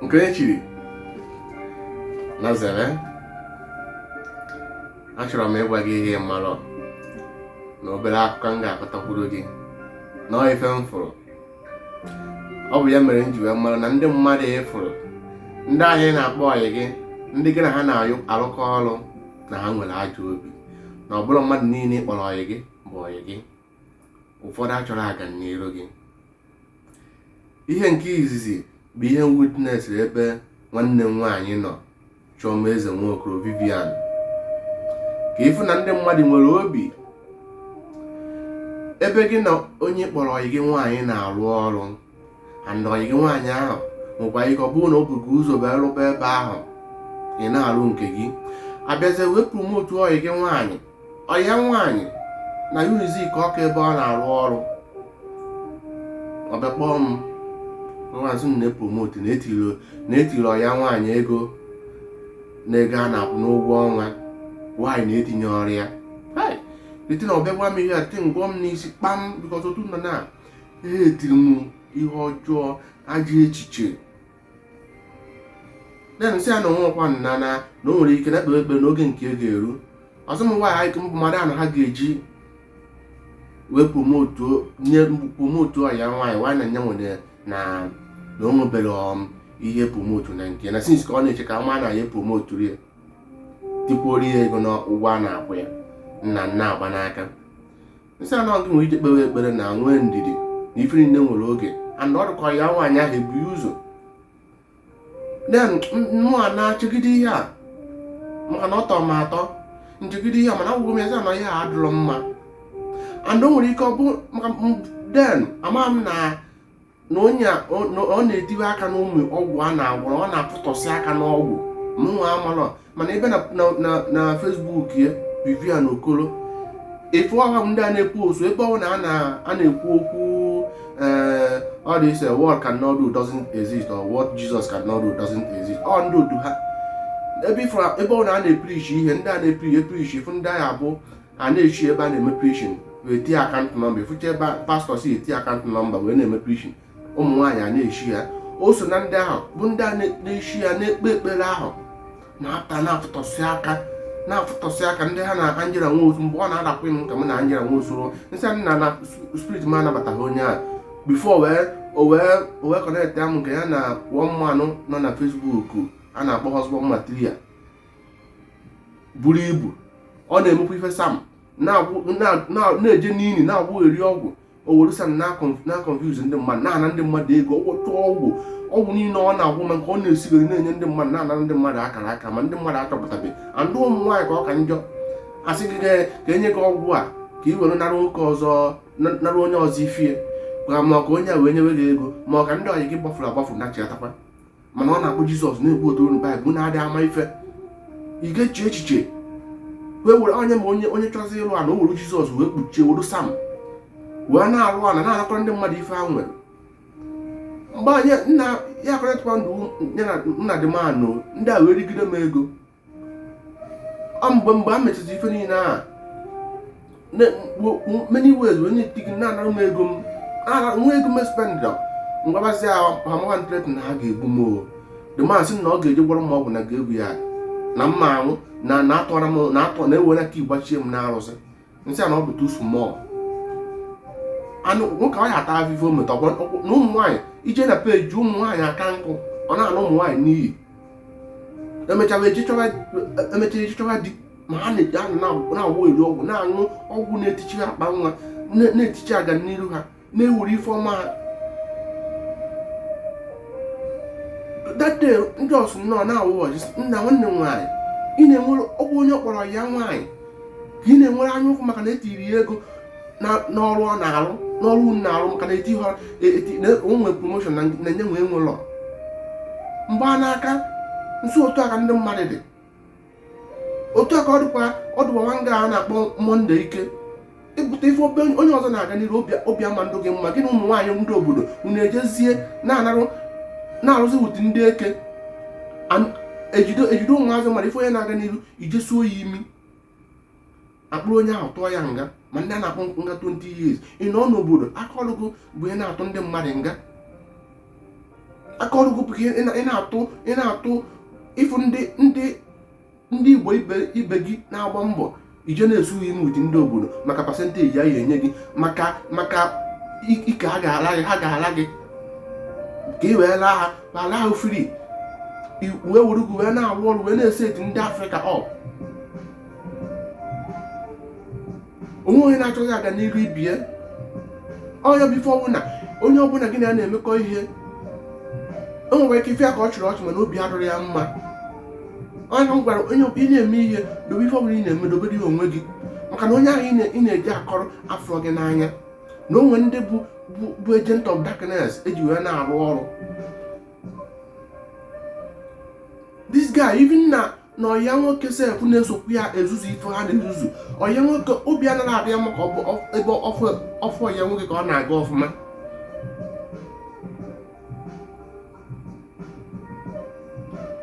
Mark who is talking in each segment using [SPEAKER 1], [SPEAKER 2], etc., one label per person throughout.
[SPEAKER 1] nke e chiri na zere achọrọ m ịgwa gị ihe m malụ na obere akụkọ m ga-akọtakwuru gị na ife m fụrụ ọ bụ ya mere m ji wee mara na ndị mmadụ ị fụrụ ndị ahụ ị na-akpọ ọyị gị ndị gị na ha na-arụkọ ọrụ na ha nwere ajọ obi na ọ bụrọ mmadụ niile ị kpọrọ ọyị gị bụ ọyị gị ụfọdụ achọrọ ọganiru gị ihe nke izizi bụ ihe m witnessiri ebe nwanne m nwaanyị nọ Chioma Eze Nwokoro Vivian ka ị fụ na ndị mmadụ nwere obi ebe gị na onye ị kpọrọ ọyị gị nwaanyị na-arụ ọrụ and ọyị gị nwaanyị ahụ nwekwa ike ọ bụrụ na o bu gị ụzọ wee rụba ebe ahụ ị na-arụ nke gị a bịazie wee promotu ọyị gị nwaanyị ọyị ya nwaanyị na Unizik Ọka ebe ọ na-arụ ọrụ ọ bịa kpọọ m na-asị m na e promotu na e tiiri ọyị ya nwaanyị ego na ego a na-akwụ n'ụgwọ ọnwa nwaanyị na-etinye ọrụ ya ite na ọ bịa gwa m ihe a tị ngwọ m n'isi kpam because otu nọ na ha etiri m ihe ọjọọ ajọ echiche then nsị ya na o nwekwa nna na na o nwere ike na-ekpe ekpere na oge nke ya ga-eru ọ sị m nwaanyị anyị mbụ mmadụ anọ ha ga-eji wee promotu nye promotu ọyị ya nwaanyị nwaanyị na nye nwere na na o nwebere um, ihe promotu na nke na since ka ọ na-eche ka ma na a ya-epromotu ya tikwuoro ya ego n'ụgwọ a na-akwụ ya nna nna agba n'aka nsị ya na gị nwere ike kpewe ekpere na nwee ndidi na ife niile nwere oge and ọ dị ka ọyị ya nwaanyị ahụ bu ya ụzọ then mụ a na-echegide ihe a maka na ọ tọrọ m atọ nchegide ihe a mana agwagwo m ya sị na ihe a adịrọ mma and o nwere ike ọ bụ maka then ama m na na onye ọ na-etiwe aka n'ụmụ ọgwụ a na-agwọ ọ na-apụtọsị aka n'ọgwụ mụnwa amalọ mana ị baa na Facebook ya Vivian Okoro ị fụ ọha ndị a na-ekwu o so ebe ọ na a na-ekwu okwu eh, all this eh, what God cannot do doesn't exist or what Jesus cannot do doesn't exist ọ ndị otu ha ebe ọ na a na-eprichi ihe ndị a na-eprichi eprichi ị fụ ndị agha bụ a na-eshe ebe a na-eme preaching wee tie account number ị fụcha ebe pastọ si eti account number wee na-eme preaching ụmụ nwaanyị a na-eshe ya o so na ndị ahụ bụ ndị a na-eshe ya na-ekpe ekpere ahụ na-apụta na-afụtọsị aka na-afụtọsị aka ndị ha na Angela Nwosu mgbe ọ na-adakwa m ka m na Angela Nwosu nsị ya na spirit m anabataghị onye ahụ before wee o wee kọnektịa mụ nke ya na one man nọ na Facebook a na-akpọ husband material buru ibu ọ na-emekwa ife psalm na-eje n'ili na-agwọ eri ọgwụ o were psalm na-confuse ndị mmadụ na-ana ndị mmadụ ego ọgwụ tụọ ọgwụ ọgwụ niile ọ na-agwọ ma nke ọ na-esigoro na-enye ndị mmadụ na-ana ndị mmadụ akara aka ma ndị mmadụ achọpụtabeghị and ụmụ nwaanyị ka ọ ka njọ a sị gị ka e nye gị ọgwụ a ka ị were nara nwoke ọzọ nara onye ọzọ ife ya ma ka onye a wee nyewe gị ego ma ọ ka ndị ọyị gị gbafuru agbafu na-achịatakwa mana ọ na-akpọ jizọs na-equote unu baịbụl na-adị ama ife ị ga-eche echiche wee were onye ma onye onye chọzi ịrụ ana o were jizọs wee kpuchie were psalm wee na-arụ ana na-anakọrọ ndị mmadụ ife ha nwere mgbe anyị na ya kọrịtụkwa ndụ ya na nna dị manụ ndị a wee rigide m ego ọ mgbe mgbe a mechaziri ife niile a many ways wee na-etigi na-anara m ego m nwa ego m spendra m gwabazi ha mawa m threat na ha ga-egbu m o the man sị na ọ ga-eje gwọrọ m ọgwụ na ga-egbu ya na mma anwụ na na-atọra m na-atọ na-ewere aka igbachie m n'arụsị m sị ya na ọ bụ too small anụ nwoke ọ ya ata afụfụ o meta na ụmụ nwaanyị i je na page ụmụ nwaanyị aka nkụ ọ na-ana ụmụ nwaanyị n'iyi e mechaa e je chọwa di ma ha na-agwọ eri ọgwụ na-aṅụ ọgwụ na-etichi akpa nwa na-etichi aga n'iru ha na-ewere ife ọma that day ndị ọsụ nnọọ na-awụ ọjị nna nwanne m nwaanyị ị na-enwere ọkwa onye kpọrọ ya nwaanyị ka ị na-enwere anya ukwu maka na e tiri ya ego n'ọrụ ọ na-arụ n'ọrụ unu na-arụ maka na eti ha o nwe promotion na nye nwee nwe ụlọ mgbanaka so otu a ka ndị mmadụ dị otu a ka ọ dịkwa ọ dịkwa nwa nga a na-akpọ monday ike ị pụta ị fụ onye ọzọ na-aga n'iru obi ama adị gị mma gị na ụmụ nwaanyị ndị obodo unu ejezie na-anarụ na-arụzi with ndị eke e jide ụmụazị mara ị fụ onye na-aga n'iru i je suo ya imi a kpụrụ onye ahụ tụọ ya nga ma ndị a na-akpọ nga 20 years ị nọ n'obodo aka ọrụ gị bụ ị na-atụ ndị mmadụ nga aka ọrụ gị bụ ka ị na-atụ ị na-atụ ị fụ ndị ndị ndị igbo ibe gị na-agba mbọ i je na-esu ha imi with ndị obodo maka percentage a ya enye gị maka maka ike ha ga-ala gị ha ga-ala gị ka ị wee laa ha ma laa ha free wee were gị wee na-arụ ọrụ wee na-eset ndị afrịka up o nwe onye na-achọghị aga n'iru ibe ya onye bụ ife ọbụla onye ọbụla gị na ya na-emekọ ihe o nwere ike ị fụ ya ka ọ chịrị ọchị mana obi adịrọ ya mma onye m gwara onye ị na-eme ihe dobe ife ọbụla ị na-eme dobere ya onwe gị maka na onye ahụ ị na-eje akọrọ afụrọ gị n'anya na o nwe ndị bụ bụ agent of darkness e ji wee na-arụ ọrụ this guy even na na ọya nwoke sef na-esokwu ya ezuzu ife ha na-ezuzu ọya nwoke obi anaghị adị ya mma ebe ọ fụ ọya nwoke ka ọ na-aga ọfụma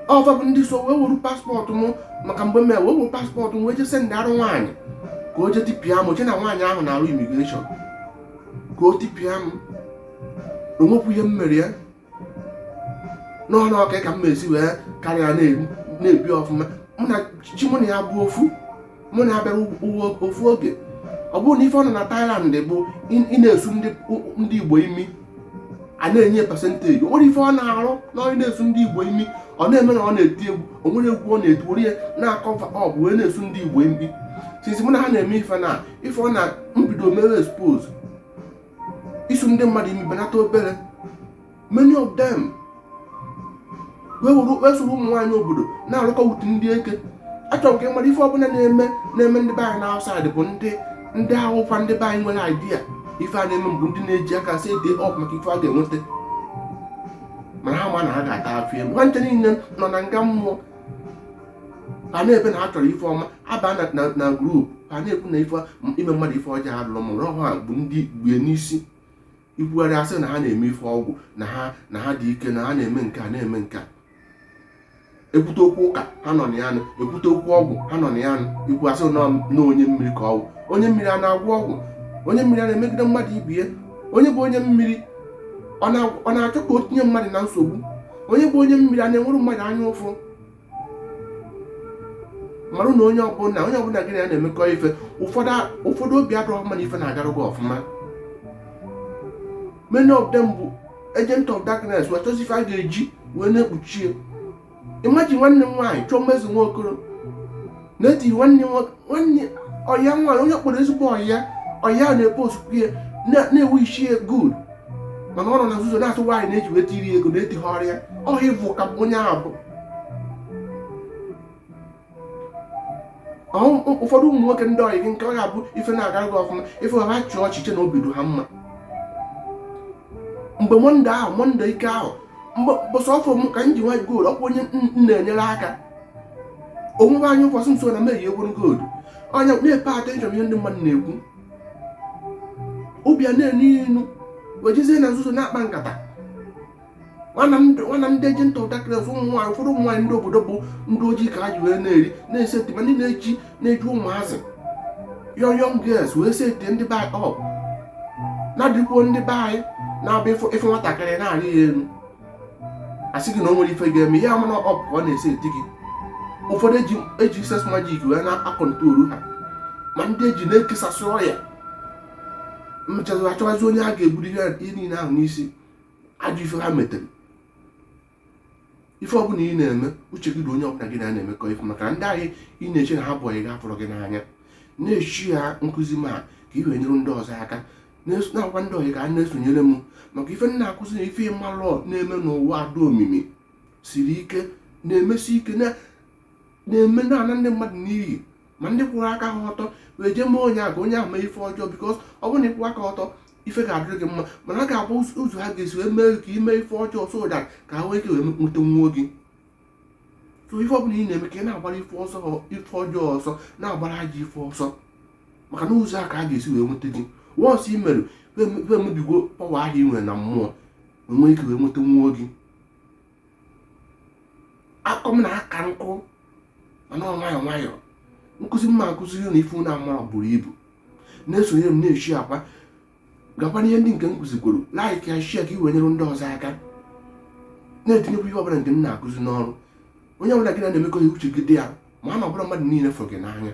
[SPEAKER 1] ọ fa bụ ndị so wee weru passport m maka mgbe m wee weru passport m wee jee sendịarụ nwaanyị ka o jee tipịa m o chee na nwaanyị ahụ na-arụ immigration ka o tipịa m o nwekwu ihe m mere ya n'ọnụ ọka ka m na-esi wee karịa na-ebi ọfụma mụ na chi mụ na ya bụ ofu mụ na ya bịara ụwa ofu oge ọ bụrụ na ife ọ nọ na Thailand bụ ị na-esu ndị Igbo imi a na-enye percentage o nwere ife ọ na-arụ na onye na-esu ndị Igbo imi ọ na-eme na ọ na-eti egwu o nwere egwu ọ na-eti were ya na-akọva up wee na-esu ndị Igbo imi since mụ na ha na-eme ife na ife ọ na m bido mere expose isu ndị mmadụ imi ebenata obere many of them wee soro ụmụ nwaanyị obodo na-arụkọ with ndị eke achọrọ m ka mmadụ ife ọbụla na-eme na-eme ndị be anyị na outside bụ ndị ndị ahụkwa ndị be anyị nwere idea ife a na-eme bụ ndị na-eji aka eseti up maka ife a ga-enweta mana ha ma na ha ga-ata afụfụ elu nwanche niile nọ na nga mmụọ ha na-ebe na ha chọrọ ife ọma abana na group a na-ekwu na ife ime mmadụ ife ọjọọ adịrọ mma ọ ha bụ ndị bu n'isi ikwugharị a sị na ha na-eme ife ọgwụ na ha na ha dị ike na ha na-eme nke a na-eme nke a ekwute okwu ụka ha nọ na ya nụ ekwute okwu ọgwụ ha nọ na ya nụ ikwu a sị na onye mmiri ka ọgwụ onye mmiri a na-agwọ ọgwụ onye mmiri a na-emegide mmadụ ibie onye bụ onye mmiri ọ na-achọ ka o tinye mmadụ na nsogbu onye bụ onye mmiri a na-enwere mmadụ anya ụfụ marụ na onye ọbụla onye ọbụla gị na ya na-emekọ ife ụfọdụ obi adịrọ mma na ife na-agarụ gị ọfụma many of them bụ agent of darkness wee chọzi ife a ga-eji wee na-ekpuchie imagine nwanne m nwaanyị Chioma Ezinwa Okoro na-eti nwanne nwanne ọya nwaanyị onye kpọrọ ezigbo ọya ọya na-epostukwu ya na-ewishi ya good mana ọ nọ na nzuzo na-atụ nwaanyị na-eji weta iri ego na-eti ha ọrịa ọha ị fụ ka onye ahụ bụ ụfọdụ ụmụ nwoke ndị ọyị gị nke ọ ga-abụ ife na-agara gị ọfụma ị fụ ha chịa ọchị chee na obi dị ha mma mgbe mọnde ahụ mọnde ike ahụ mgbe mbọsị ọ fụ m ka m yi nwa gold ọkwa onye m na-enyere aka o nwebe anya ụfụ sị nso na m yi egwuru gold onye na-epe attention ihe ndị mmadụ na-ekwu ọ bịa na-enu inu wejezie na nzuzo na-akpa nkata nwa na ndị agent of darkness ụmụ nwaanyị ụfọdụ ụmụ nwaanyị ndị obodo bụ ndị ojii ka ha ji wee na-eri na-eseti ma ndị na-eji na-eji ụmụazị young young girls wee seti ndị be anyị up na-adịkwuo ndị be anyị na-abịa ịfụ nwatakịrị na-arị ya elu asị gị na o nwere ife ga-eme ya mana up ka ọ na-eseti gị ụfọdụ eji sex magic wee na-akọntrolu ha ma ndị eji na-ekesasị ọya mechazie achọwazie onye ga-eburu ihe niile ahụ n'isi ajọ ife ha metere ife ọbụla ị na-eme uche gị na onye ọbụla gị na ya na-emekọ ife maka ndị ahụ ị na-eche na ha bụ ọyị gị fụrụ gị n'anya na-eshia nkụzi m a ka ị wee nyere ndị ọzọ aka na-agwa ndị ọyị gị ka ha na-esonyere m maka ife m na-akụzi na ife m malụ na-eme n'ụwa ada omimi siri ike na-emesi ike na-eme na-ana ndị mmadụ n'iyi ma ndị kwụrụ aka ha ọtọ wee jee mee onye a ka onye ahụ mee ife ọjọọ because ọ bụrụ na ị kwụ aka ọtọ ife ga-adịrị gị mma mana ọ ga-abụ ụzọ ha ga-esi wee mee ka i mee ife ọjọọ so that ka ha nwee ike wee nweta nwa gị so ife ọbụla ị na-eme ka ị na-agbara ife ọjọọ ọsọ na-agbara ajọ ife ọsọ maka na ụzọ a ka ha ga-esi wee nweta gị once i mere ife emebigo power ahụ ị nwere na mmụọ enwee ike wee nweta nwa gị akọ m na aka nkụ mana nwayọọ nwayọọ nkụzi m na-akụziri ụnụ ife ụnụ amarọ buru ibu na-esonyere m na-eshiakwa gakwa n'ihe ndị nke m kụzikwuru like ya share ka i wee nyere ndị ọzọ aka na-etinyekwa ihe ọbụla nke m na-akụzi n'ọrụ onye ọbụla gị na ya na-emekọ ihe uche gị dị ya maka na ọ bụrọ mmadụ niile fụrụ gị n'anya